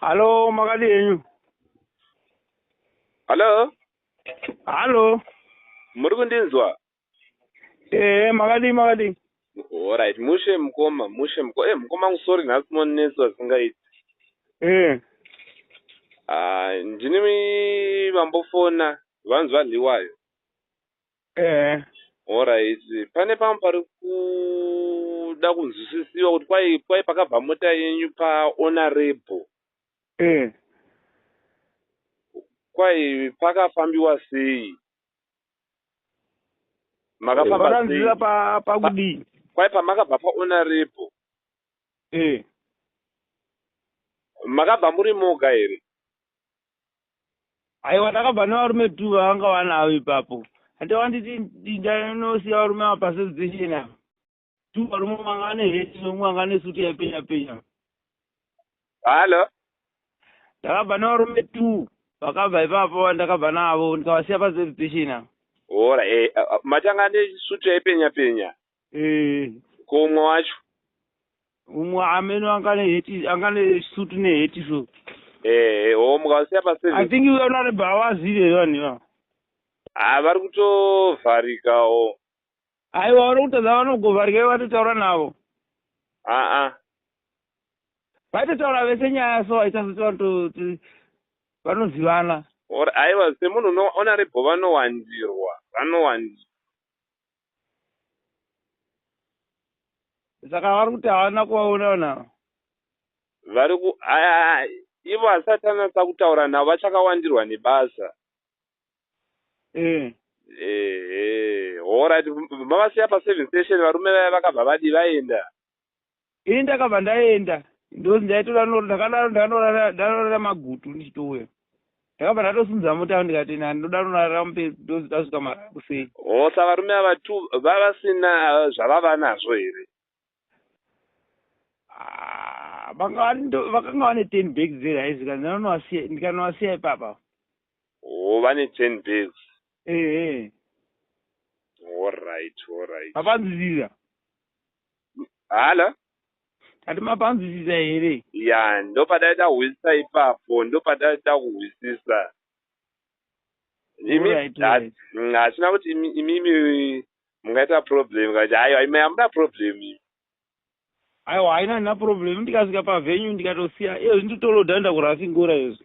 Halo, makadi henyu? Halo, Halo. muri kundinzwa? Eh, makadi makadi. Alright, mushe mukoma, mushe mukoma. Eh, mukoma wangu sorry nhasi monetswa zvisingaiti. Eh. Ah, ndini vambofona vanzi varliwayo. ehe Alright, pane pamwe pari kuda kunzwisisiwa kuti kwai kwai pakabva mota yenyu pahonorable eh kwai pakafambiwa sei? Makafamba sei? vakanzwira pa pakudii Kwai pamakabva pahonorable eh makabva muri moga here? aiwa ndakabva nevarume two vavanga vanavo ipapo ande wanditi ndindanosiya varume ava pasensation ava two varume vanga vane heti nomwe vanga ne suti yaipenya penya hallo ndakabva nevarume two vakabva ipapo vandakabva navo ndikavasiya pasensation ava ora e eh, eh, matanga ne suti yaipenya penya eh ko umwe wacho umwe ameno angane heti angane suit ne heti so eh ho mukasiya pa service i think we are not about us here vanhu va ah vari kutovharika ho ai vaona kuti vanogovharika ivo vatotaura navo a ah, a ah. vaitotaura vese nyaya so aita kuti vanhu vanozivana or aiwa semunhu unoona rebho vanowandirwa vanowandirwa saka vari kuti havana kuvaona vanhu ava vari ku aya ivo asati anatsa kutaura navo vachakawandirwa nebasa eh. ehe horit mavasiya paservice station varume vaya vakabva vadi vaenda Ini ndakabva ndaenda ndozi ndaitora noro ndakadaro ndanorara ndanorara magutu ndichitouya. Ndakabva ndatosunza mota ndikati nani ndoda norara mupezi ndozi tasvika mara kusei. Hoo sa varume ava two vavasina zvavava nazvo here. Ah vanga vari ndo vakanga vane ten bags dze rice zvikanzi ndanonovasiya ndikanovasiya ipapa. Hoo vane ten bags. Ehe. Horyt horyt. Vapanzirira. Hala? Kati mapanzwisisa here? Ya, ndopadaida kuhwisisa ipapo, ndopadaida kuhwisisa. Imi, right, right. Mm, Hatina kuti imi, imi, imi mungaita problem, kati hayo, imi hamuna problem imi. Aiwa, haina na problem, ndikasvika pavenue ndikatosiya, iyo nditoloda ndakurafingura izvo.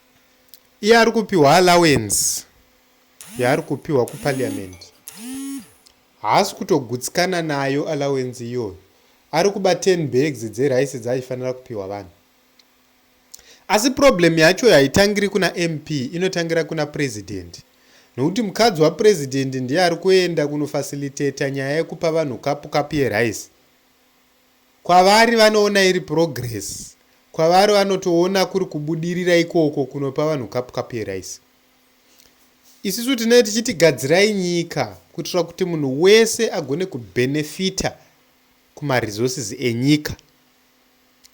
iye ari kupiwa allowance yaari kupiwa kuparliament haasi kutogutsikana nayo allowance iyoyo ari kuba 10 bags dzerice dzaifanira kupiwa vanhu asi problem yacho haitangiri kuna mp inotangira kuna president nokuti mukadzi wapresident ndiye ari kuenda kunofacilitata nyaya yekupa vanhu kapu kapu yerice Kwavari vanoona iri progress. Kwavari vanotoona kuri kubudirira ikoko kunopa vanhu cup cup yerice. Isusu tinenge tichiti gadzirai nyika kuitira kuti munhu wese agone kubenefita kumaresources enyika.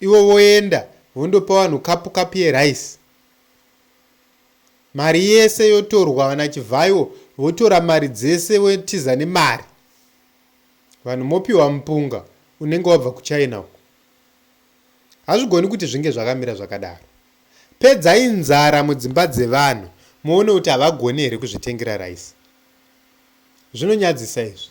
Ivo voenda vondopa vanhu kapu kapu yerice mari yese yotorwa vanachivhayo votora mari dzese votiza nemari Vanhu mopiwa mupunga unenge wabva kuChina uko. Hazvigoni kuti zvinge zvakamira zvakadaro. Pedzai nzara mudzimba dzevanhu muone kuti havagoni here kuzvitengera rice. Zvinonyadzisa izvi.